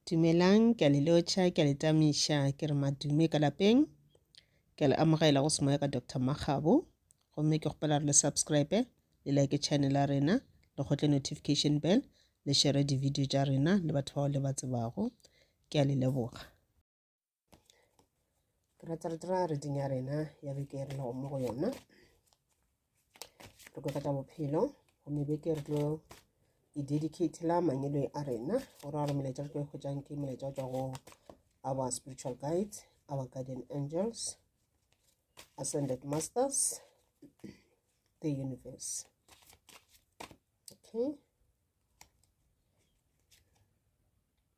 Dumelang, ke a le lotšha, ke a le tamiša, ke re madume ka lapeng. Ke a le amogela go semoya ka Doctor Makgabo. Gomme ke kgopela re le subscribe, le like channel ya rena, le kgotle notification bell, le share di-video tša rena le batho bao le ba tsebago. Ke a le leboga. ke rata re dira reding ya rena ya beke e re lego mo go yona re kwe ka bophelo gomme beke re tlo e dedicatela mangelo a rena gore a re molaetša re tlo e kgwetsang ke molaetša o tswa go our spiritual guide our guardian angels ascended masters the universe okay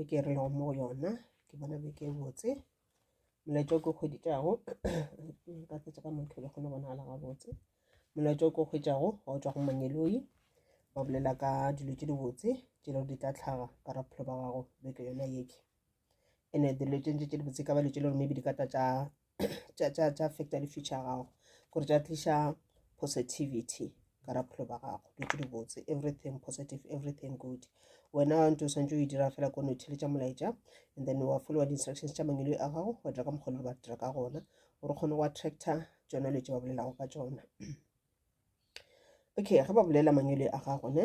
e ke re lego mo go yona ke bona be ke botse molaetša o ke kgweditšago ka fetsa ka motho le kgone go bonagala gabotse molaetša o ke kgwetšago ga o tswa go mangeloi ba bolela ka dilo tše dibotse tše lego di tla tlhaga ka ra bophelo ba gago beke yona yeke ene dilo tše ntse tše dibotse ka ba dilo tše lego maybe di ka tla tša tša affecta di-future ya gago gore tša tliša positivity ka ra bophelo ba gago dutse di botse everything positive everything good wena wa ntse o swantse o e dira fela ko nothele tša molaetša and then wa followa di-instructions tša mangelo a gago wa dira ka mokgolo le ba dira ka gona gore kgone go attractor tsona dilo tse ba bolelago ka tsona okay ge ba bolela mangelo a gago ne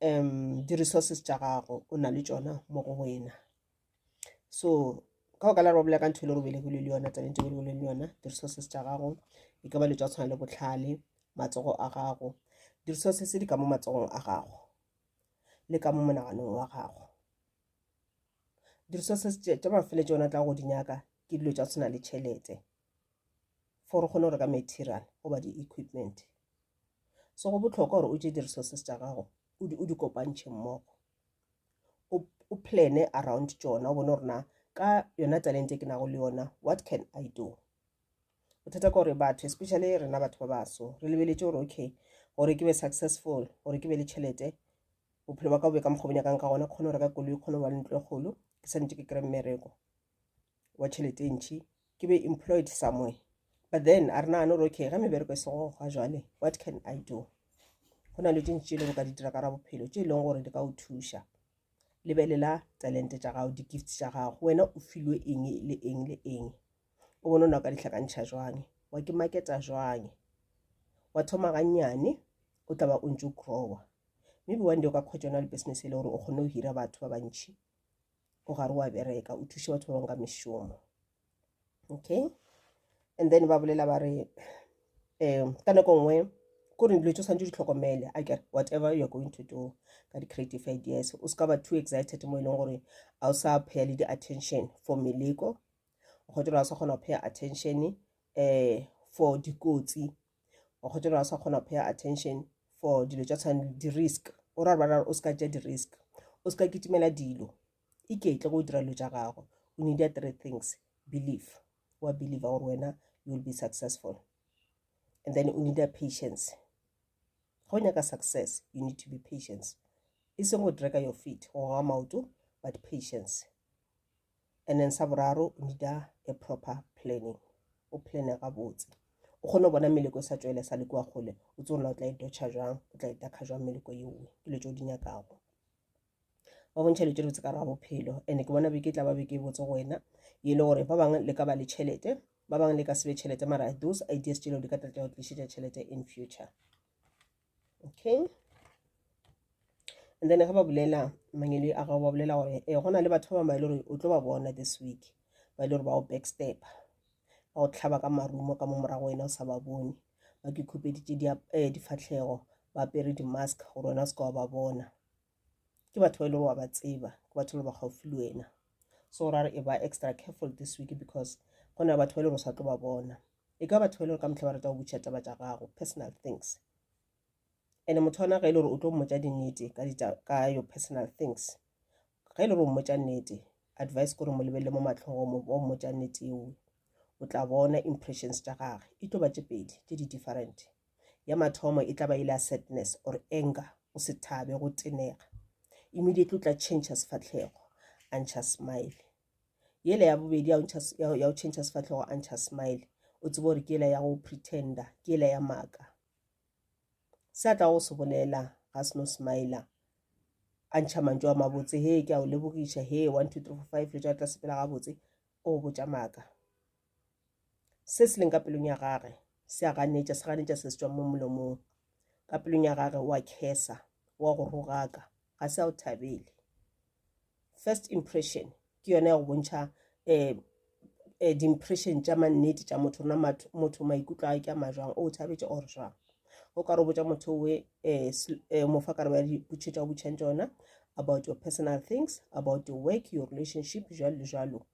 um di resources tša gago o na le tšona mo go wena so ka go ka lare ba bolela ka ntho e le gore belegile le yona tabeng tse belegile le yona di-resources tša gago e ka ba le tša tshwana le botlhale matsogo a gago di-resources di ka mo matsogong a gago le ka mo monaganong wa gago di-resources tša mafele tšona tla go di nyaka ke dilo tša tshwana le tšhelete for o kgone go reka material goba di-equipment so go bohlokwa gore o tše di-resources tša gago o di kopantšhe mmogo o plane around tšona o bone gore na ka yona talente ke nago le yona what can i do bothata ka gore batho especially rena batho ba baso re lebeletse gore okay gore ke be successful gore ke be le tšhelete bophelo ba ka bobe ka mokgobonyakang ka gona kgone go reka koloi kgone go ba le ntlo e kgolo ke santse ke kry mmereko wa tšhelete e ntšhi ke be employed somewhere but then a re nagane gore okay ga mebereko e sego ga jwale what can i do go na le dintši tše e lego ka di dira ka ra bophelo tše e leng gore di ka o thuša lebelela talente tša gago di-gift tša gago wena o filwe eng le eng le eng o bone o na o ka dihlakantšha jwang wa ke maketa jwang wa thoma gannyane o tla ba o ntse o growa maybe one day o ka kgwetsa yona le business e le gore o kgone go hira batho ba bantšhi o gare wa bereka o thuše batho ba bangwe ka mešomo okay and then ba bolela ba re um ka nako nngwe ko re dilo tse o tshwanetse di tlhokomele a kere whatever you're going to do ka di-creative ideas o se ka ba too excited mo e leng gore a o sa pheya le di-attention for meleko kgotsa o sa kgona go pheya attention um for dikotsi wa kgotsa gore a sa kgona go paya attention for dilo tša tshwane di-risk o ra bara o seka tša di-risk o seka kitimela dilo iketle go dira dilo tša gago o need ya three things believe wa believe gore wena you will be successful and then o need ya patience go nyaka success you need to be patience e seng go dreka your feet go ga maoto but patience and then sa boraro o need a proper planning o plane gabotse o kgone go bona meleko e sa tswele sa le kua kgole o tse ona o tla e dotšha jang o tla e dakha jang meleko yeoe ke dilo tse o di nyakago ba bontšha dilo tse dibotse ka ra bophelo and ke bona beke tla ba beke e botse go wena e le gore ba bangwe le ka ba le tšhelete ba bangwe le ka sebe tšhelete mara those ideas tšeleo di ka tlatla go tlišetša tšhelete in future okay and then ga ba bulela mangele a gago ba bulela gore e go na le batho ba bangwe le gore o tlo ba bona this week ba e le gore ba o backstep ba go tlhaba ka marumo ka mo morago wena o sa ba bone ba ke khupeditše eh, difatlhego ba apere di-mask gore wena o se ka wa ba bona ke batho ba e le gore wa ba tseba ke batho le ba gaufi le wena so ra re e ba extra careful this week because go na batho ba e le gore o sa tlo ba bona e ka batho ba e le gore ka motlha ba rata go butšha taba tša gago personal things and motho ona ga e le gore o tlo mmotsa dinnete ka your personal things ga e le gore o mmotsa nnete advice kore mo lebelele mo matlhogong o mmotsa nnete eo o tla bona impressions tša gage e tlo ba tše pedi tše di different Ya mathomo e tla ba e le ya sadness or anger, go se thabe, go tenega. Immediately o tla change sefahlego, a ntšha smile. Yela ya bobedi ya go change sefahlego, a ntšha smile. O tsebe gore ke yela ya go pretender, ke yela ya maaka. Se a tla go se bolela ga se no smiler, a ntšha mantšu a mabotse, he ke a o lebogiša, he one two three four five, le tša tla sepela gabotse, o botša maaka. Se se leng ka pelong ya gage se a ganetša, se ganetša se se tšwang mo molomong. Ka pelong ya gage wa khesa, wa go rogaka, ga se a o thabele. First impression ke yona ya go bontšha um um di-impression tša mannete tša motho na motho maikutlo a ke a majwang o thabetše or jwang o ka re o botša motho we um mo fa karabo ya dipotšho tša o botšhang tšona about your personal things about your work your relationship jwalo le jwalo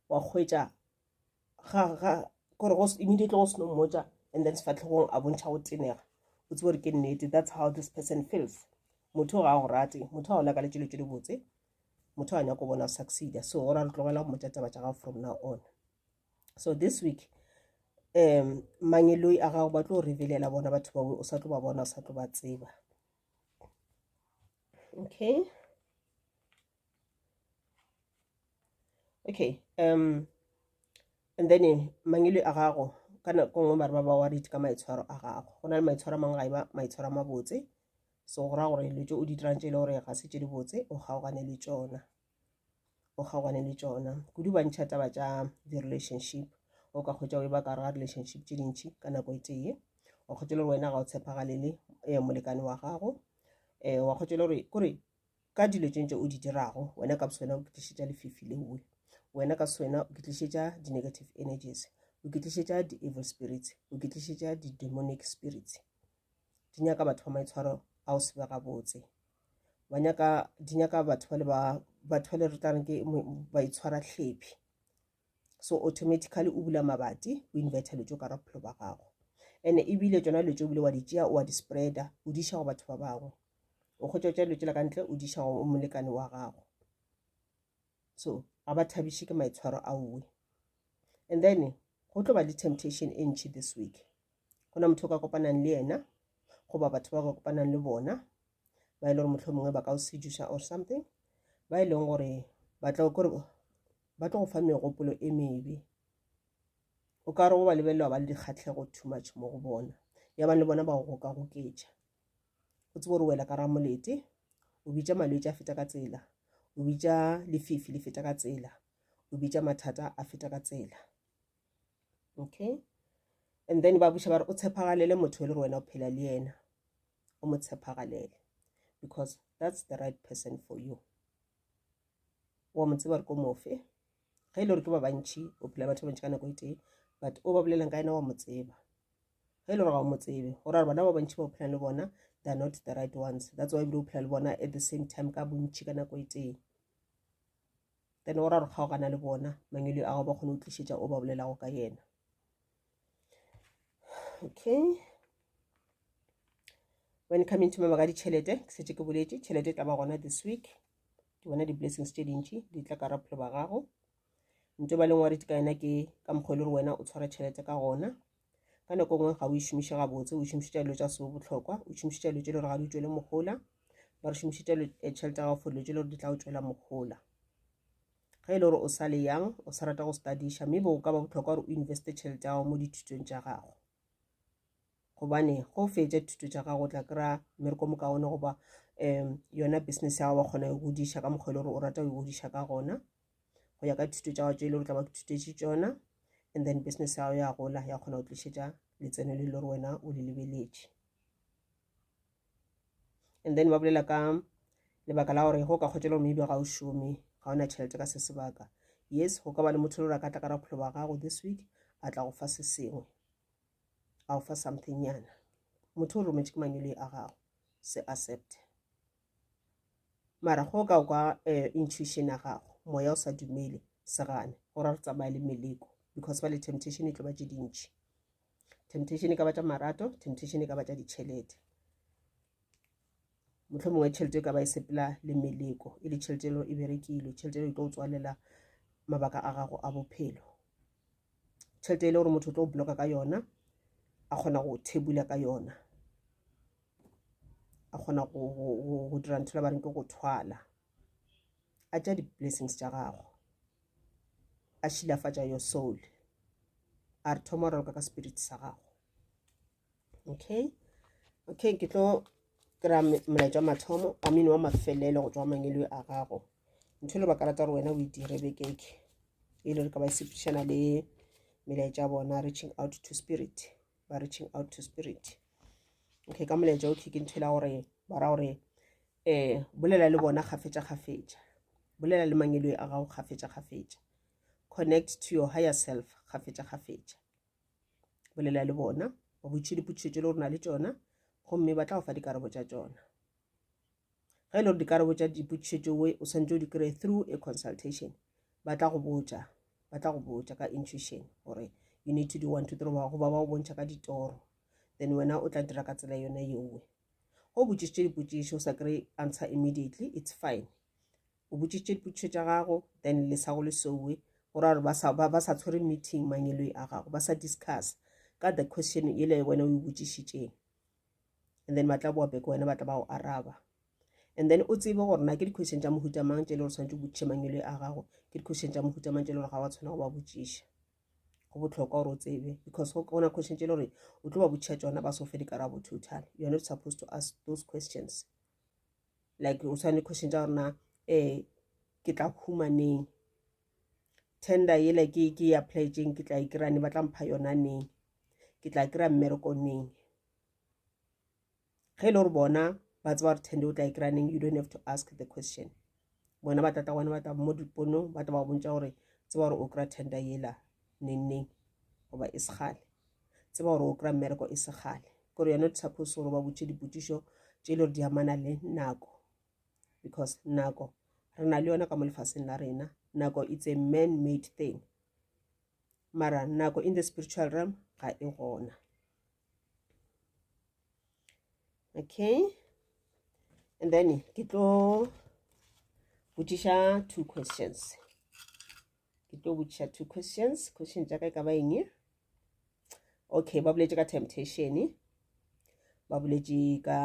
wa hwetša ga ga kore go immediately go seno mmotša and then sefatlhegong a bontšha go tenega o tsebo gore ke nnete that's how this person feels motho ga a go rate motho ga o laka le tšelo tše dibotse motho ga nyako bona o succeeda so ora re tlogela go mmotša taba tša gago from now on so this week um mangeloi a gago ba tlo revelela bona batho bao o sa tlo ba bona o sa tlo ba tseba okay okay um and then eh, mangele a gago ka nako nngwe bare ba ba worried ka maitshwaro a gago go na le maitshwaro a mangwe ga e ba maitshwaro a mabotse so go raya gore letso o di dirang tse e le gore ga se tse di botse o kgaogane le tsona o kgaogane le tsona kudu ba ntšha taba tša di-relationship o ka kgwetsa o e ba ka ga relationship tse dintšhi ka nako e tee wa kgwetsa le gore wena ga o tshepagalele um molekane wa gago um wa kgwetsa le gore kore ka dilo tše ntše o di dirago wena ka boswena o ke tlišetša lefifi leoe wena ka swena o ke tlišetša di-negative energies o ke tlišetša di-evil spirits o ke tlišetša di-demonic spirits di nyaka batho ba maitshwaro a o sebe gabotse ba nyaka di nyaka batho ba le ba batho ba le re tla reng ke ba itshwara tlhephi so automatically o bula mabati o inverter letšo ka raphelo ba gago ene ebile tsona letšo bile wa di tšea wa di spreada o di go batho ba bangwe o kgotsa tša letšo la ka ntle o di go o molekane wa gago so ga ba thabiše ke maitshwaro a uwe and then go tlo ba le temptation e ntšhi this week go na motho o ka kopanang le yena goba batho ba ka kopanang le bona ba e le gore motlho mongwe ba ka o sedusa or something ba e leng gore ba tla kore Ba tlo go fa megopolo e mebe. O ka re go ba lebelela wa ba le dikgatlhego too much mo go bona. Ya bang le bona ba go gokagoketša. O tsebe gore wela ka ramolete, o bitša malwetši a feta ka tsela, o bitša lefifi le feta ka tsela, o bitša mathata a feta ka tsela. Okay? And then ba buša ba re o tshepagalele motho e le gore wena o phela le yena. O mo tshepagalele because that's the right person for you. wa mo tseba gore ko mofe ge e le gore ke ba bantšhi o phela batho ba bantšhi ka nako e tee but o ba bolelang ka ena wa mo tseba ge e le gore ga o mo tsebe go raya bona ba bantšhi ba o phelang le bona they're not the right ones that's why ebile o phela le bona at the same time ka bontšhi ka nako e tee then o ra gore kgaogana le bona mangweleo a go ba kgone o tlišetša o ba bolelago ka yena okay when coming to mama ka ditšhelete ke setse ke boletse tšhelete e tla ba gona this week ke bona di-blessings tše dintši di tla ka raphelo ba gago nto ba leng wa rete ka yena ke ka mokgwa e le gore wena o tshwara tšhelete ka gona ka nako e nngwe ga o e šomiše gabotse o šomišitša dilo tša seo botlhokwa o šomišitša dilo tše le gore ga di tšwele mogola ba re šomišitša eh, tšhelete ya gago for dilo tše le gore di tla o tšwela mogola Ge e le gore o sa le yang, o sa rata go stadiša, mme bo go ka ba bohlokwa gore o investe tšhelete ya gago mo dithutong tša gago. Gobane ge o fetša dithuto tša gago o tla kry-a mmereko mokaone goba um yona business ya gago wa kgona go e godiša ka mokgwa e le gore o rata go e godiša ka gona go ya ka dithuto tša gago tše e le gore tla ba thutetše tšona and then business ya gago ya gola ya kgona go tlišetša letseno le le gore wena o le lebeletše and then ba bolela ka lebaka la gore go ka kgwetša gore maybe ga o šome ga ona tšhelete ka se sebaka yes go ka ba le motho le gore a ka tla ka rapholo ba gago this week a tla go fa se sengwe a go fa something yana motho o rometše ke manyoloi a gago se accept mara go ka kwa eh, intuition ya gago moya o sa dumele se gane gore re tsamaye le meleko because ba le temptation e tlo ba tše dintšhi temptation e ka ba tša marato temptation e ka ba tša ditšhelete motlho mongwe tšhelete e ka ba e sepela le meleko e le tšhelete elo e berekile tšhelete elo e tlo tswalela mabaka a gago a bophelo tšhelete e le gore motho o tlo bloka ka yona a kgona go thebula ka yona a kgona go dira ntho la ba reng ke go thwala a tša di-blessings tša gago a šilafatša your soul a re thoma raloka ka spirit sa gago okay okay ke tlo kry-a molaetša mathomo a mine wa mafelelo go tswa mangelo a gago ntho e le baka rata gore wena o e dire bekeke e le re ka ba e sepedišana le melaetša bona reaching out to spirit ba reaching out to spirit okay ka molaetša o tlhike ntho e la gore ba ra gore um bolela le bona kgafetša-kgafetša bolela le mangeloi a gago kgafetša-kgafetša connect to your higher self kgafetša-kgafetša bolela le bona ba botše dipotšišo tše le gore na le tšona gomme ba tla go fa dikarabo tša tšona ge e le gore dikarabo tša dipotšišo tšeo o swanetse o di kry through a consultation ba tla go botša ba tla go botša ka intuition gore you need to do one to three goba ba go bontšha ka ditoro then wena o tla dira ka tsela yone yeowe Ge o botšišitše dipotšišo o sa kry answer immediately, it's fine. O botšišitše dipotšišo tša gago, then le sa go le sowe, go ra gore ba sa, ba, ba sa tshwere meeting mangeloi a gago, ba sa discuss ka the question ele wena o e botšišitšeng. And then ba tla boa beke wena ba tla ba go araba. And then o tsebe gore na ke di-question tša mohuta mang tše le gore swanetše o botšiše mangeloi a gago, ke di-question tša mohuta mang tše le gore ga wa tshwana go ba botšiša. go bohlokwa gore o tsebe because go ona question tse le gore o tlo ba botšha tsona ba so fe dikarabo total you are not supposed to ask those questions like o tshwane question tsa gorena um eh, ke tla humaneng tender yela ke ke e applyetseng ke tla e kry-a ne ba tla mpha yona neng ke tla kry-a mmereko neng ge e le gore bona ba tseba gore tende o tla e kry-a neng you don't have to ask the question bona ba tata gona ba tla mo diponong ba tla ba bontša gore tseba gore o kry-a tender yela neng neng goba e segale tseba gore o kry-a mmereko e segale kore yone di suppose gore ba botše dipotsišo tše e le gore di amana le nako because nako re na le yona ka mo lefaseng la rena nako it's a man made thing mara nako in the spiritual realm ga e gona okay and then ke tlo botšiša two questions ke tlo botšiša two questions question tša ka e ka ba eng okay ba boletše ka temptation ba boletše ka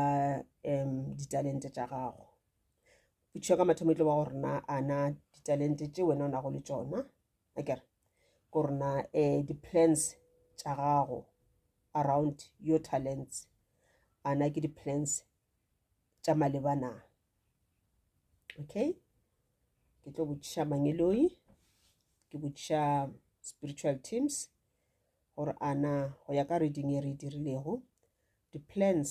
um ditalente tša gago botšiša ka mathomo e tlo ba gore na ana ditalente tše wena o nago le tšona a ke re gore na um di-plans tša gago around your talents ana ke di-plans tša maleba na okay ke tlo botšiša mangeloi ke botšiša spiritual teams gore ana go ya ka reading e re e dirilego di-plans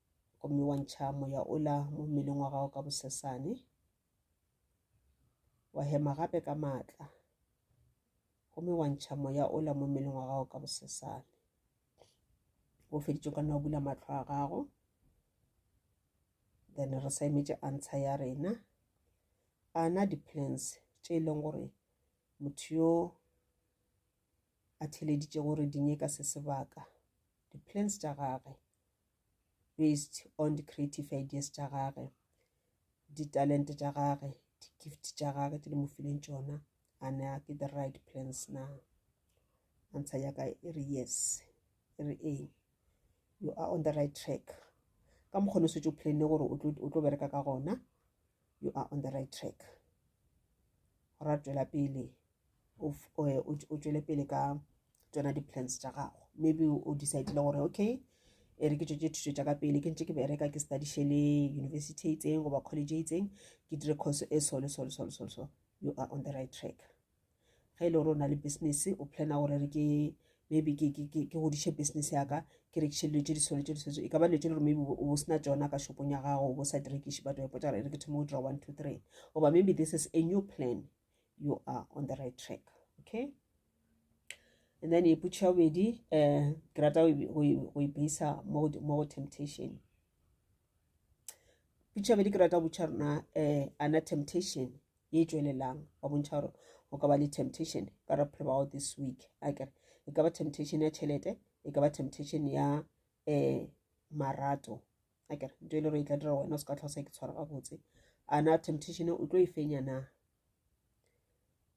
gomme wa ntšha moya ola mo mmeleng wa gago ka bosesane wa hema gape ka maatla gomme wa ntšha moya ola mo mmeleng wa gago ka bosesane o feditše ka nna o bula matlho a gago then re sa emetše answer ya rena ana di-plans tše e leng gore motho yo a theleditše gore di nyeka se sebaka di-plans tša gagwe based on the creative ideas tša gage ditalente tša gage di-gift tša gage tse di mo fileng tšona a ne a ke the right plans na answer ya ka e re yes e re ee you are on the right track ka mokgone o setse o planne gore o tlo bereka ka gona you are on the right track ra tšwela pele eh, o tšwele pele ka tsona di-plans tša gago maybe o decidele gore okay e re ke tšwetse thuto tša ka pele ke ntse ke bereka ke studiše le university e itseng goba college e itseng ke dire course e solo solo solo solo so you are on the right track ge e le gore o na le business o plana gore re ke maybe ke godiše business yaka ke rekiše dilo tse di swane tse di swane e ka ba dilo tse le gore maybe o sena tsona ka shopong ya gago o sa di rekiše but wa potsa gore e re ke thoma go dira one two three oba maybe this is a new plan you are on the right track okay and then e putšha bobedi um eh, ke rata go e beisa mo go temptation putšha bobedi ke rata botšha rona um eh, ana temptation ye e tšwelelang wa bontšha gore o ka ba le temptation ka re bophelo ba gago this week a kere e ka ba temptation ya tšhelete e ka ba temptation ya um marato a kere nto e le gore e tla dira wena o se ka tlhosa ke tshwara gabotse a na temptation o tlo e fenya na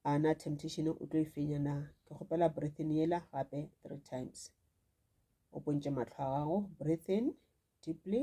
a na temptation o tlo e fenya na ke kgopela breathing yela gape three times o pontše matlho a gago breathing deeply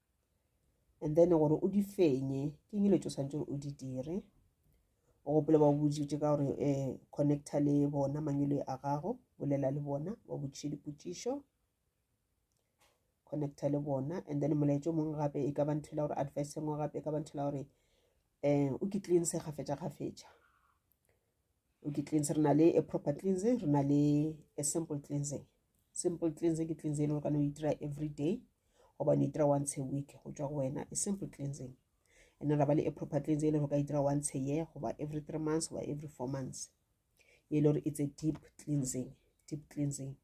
and then gore o di fenye ke eng letso santse gore o di dire o gopole ba botsitse ka gore um connecta le bona mangwele a gago bolela le bona ba botsise dipotsišo connecta le bona and then molaetso o mongwe gape e ka ba ntho la gore advice engwe gape e ka ba ntho la gore um o ke tleng se gafetša gafetša ke cleanse re na le a proper cleansing re na le a simple cleansing simple cleansing ke cleansing e le gore kana o itira every day gobane itira once a week go tswa go wena a simple cleansing and then ra ba le a proper cleansing e le gore ka itira once a year goba every three months goba every four months e le gore it's a deep cleansing deep cleansing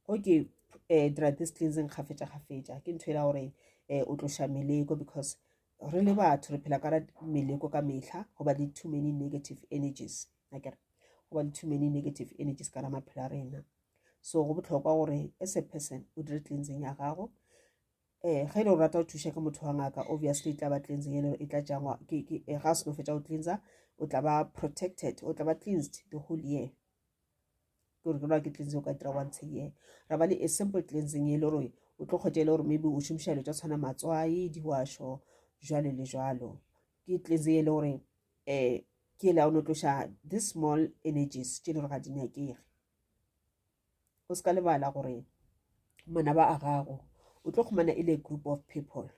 go ke um dira this cleansing kgafetša kgafetša ke ntho e la gore um o tloša meleko because re le batho re phela ka ra meleko ka mehla go ba le too many negative energies akere go ba le too many negative energies ka ra maphelo a rena so go botlhokwa gore as a person o dire cleansing ya gago eh ge e le o rata go thuša ke motho wa ngaka obviously e tla ba cleansing e le e tla jangwa ke ke eh, ga seno fetsa go cleansa o tla ba protected o tla ba cleansed the whole year ke gore ke loa ke cleansing o ka dira once a year ra ba le a simple cleansing e le gore o tlo kgotša e le gore maybe o šomiša dilo tsa tshwana matswai diwašo jalo le jalo ke cleansing e le gore um ke ele o no tloša this small energies tše e le gore ga di nyakege o se ka lebala gore manaba a gago o tlo kgomana e le group of people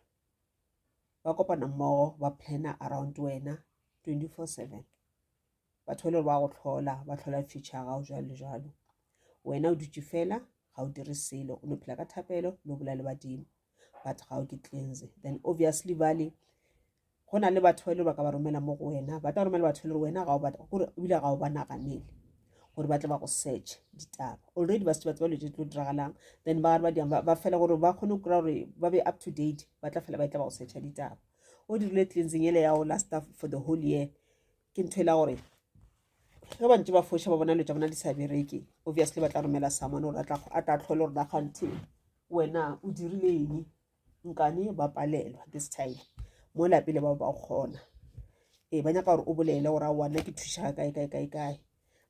ba kopana mmogo ba planner around wena 24 7 batho ba le ba go tlhola ba tlhola future ya gago jwalo jwalo wena o dutše fela ga o dire selo o no phela ka thapelo no bola le badimo but ga o ke cleanse then obviously bale go na le batho ba e le ba ka ba romela mo go wena ba tla romela batho e le wena ga o batla gore ebile ga o ba naganele gore ba tle ba go search ditaba already ba se ba tseba dilo tse tlo diragalang then ba ba diang ba fela gore ba kgone go kry gore ba be up to date ba tla fela ba e tla ba go searcha ditaba o dirile cleansing ele ya go last for the whole year ke ntho e la gore ge bantse ba foša ba bona lo tsa bona di sa bereke obviously ba tla romela samone gore a tla tlhole gore nagante wena o dirile eng nkane ba palelwa this time mo lapele ba ba kgona ee ba nyaka gore o bolele gore a wana ke thušaga kae kae kae kae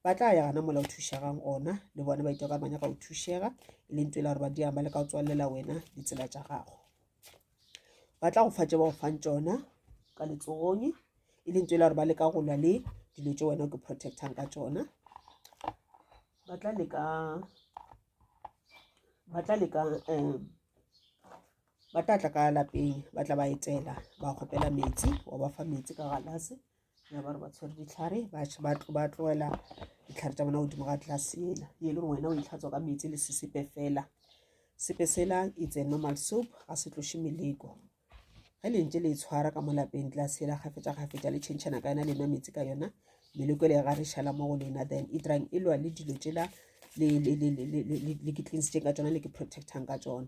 ba tla ya gana mola o thušegang ona le bona ba itwa ka manya ka o thušega e leng tswela gore ba diang ba le ka o tswalela wena ditsela tša gago ba tla go fa tše ba go fang tšona ka letsogong e leng tswela gore ba leka go lwa le dilo tše wena o ke protectang ka tšona ba tla leka ba tla leka um ba tla tla ka lapeng ba tla ba etela ba kgopela metsi wa ba fa metsi ka galase ya ba re ba tshwere ditlhare ba tloela ditlhare tsa bona godimo ga tlase ela ye le gore wena o itlhatswa ka metsi le sesepe fela sepe sela it's a normal soap ga se tloše meleko ge lentse le e tshwara ka mo lapeng tlase ela gafetsa gafetsa le tšhentšhana ka yona le nwa metsi ka yona meleko e le ga re šala mo go lena then e dirang e lwa le dilo tsela le ke cleansitseng ka tsona le ke protectang ka tsona